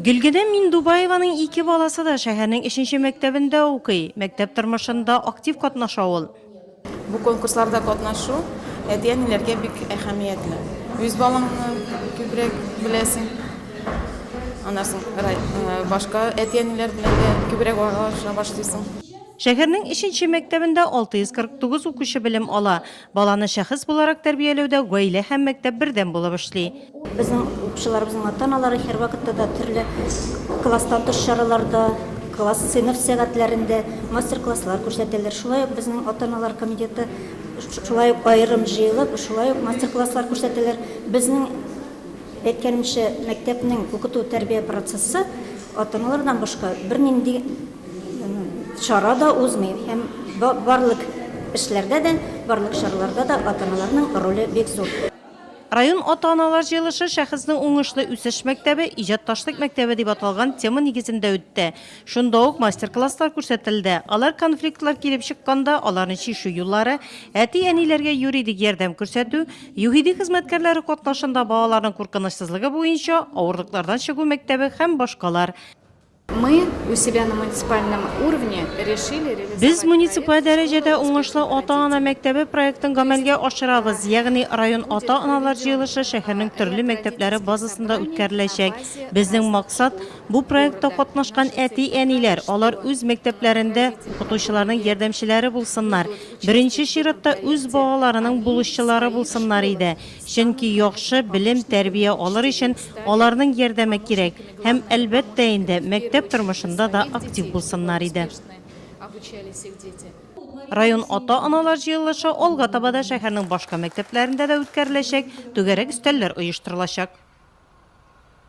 Гөлгенә Миндубаеваның ике баласы да шәһәрнең өченче мәктәбендә укый. Мәктәп тормышында актив катнаша ул. Бу конкурсларда катнашу әти-әниләргә бик әһәмиятле. Үз балаңны күбрәк беләсең. Аннан соң башка әти-әниләр белән дә күбрәк аралаша башлыйсың. Шәһәрнең өченче мәктәбендә 649 укучы белем ала. Баланы шәхес буларак тәрбияләүдә гаилә һәм мәктәп бердәм булып эшли. Безнең укучыларыбызның ата-аналары һәрвакытта да төрле класстан тыш чараларда, класс, сыйныф сәгатьләрендә мастер-класслар күрсәтәләр. Шулай ук безнең ата-аналар комитеты шулай ук аерым җыелып, шулай ук мастер-класслар күрсәтәләр. Безнең әйткәнемчә, мәктәпнең укыту-тәрбия процессы ата-аналардан башка бернинди Чара да узмый һәм барлык эшләрдә дә, барлык чараларда да ата-аналарның роле бик зур. Район ата-аналар җыелышы Шәхеснең уңышлы үсеш мәктәбе, иҗатташлык мәктәбе дип аталган тема нигезендә үтте. Шунда ук мастер-класслар күрсәтелде. Алар конфликтлар килеп чыкканда, аларны чишү юллары, әти-әниләргә юридик ярдәм күрсәтү, ЮХИДИ хезмәткәрләре катнашында балаларның куркынычсызлыгы буенча авырлыклардан чыгу мәктәбе һәм башкалар Без муниципаль дәрәҗәдә Уңышлы ата-ана мәктәбе проектын гамәлгә ашырабыз, ягъни район ата-аналар җыелышы шәһәрнең төрле мәктәпләре базасында үткәреләчәк. Безнең максат, бу проектта катнашкан әти-әниләр, алар үз мәктәпләрендә укытучыларның ярдәмчеләре булсыннар, беренче чиратта үз балаларының булышчылары булсыннар иде. Чөнки яхшы белем-тәрбия алыр өчен аларның ярдәме кирәк һәм, әлбәттә инде, мәктәп тормышында да актив булсыннар иде. Район ата-аналар җыелышы алга таба да шәһәрнең башка мәктәпләрендә дә үткәреләчәк, түгәрәк өстәлләр оештырылачак.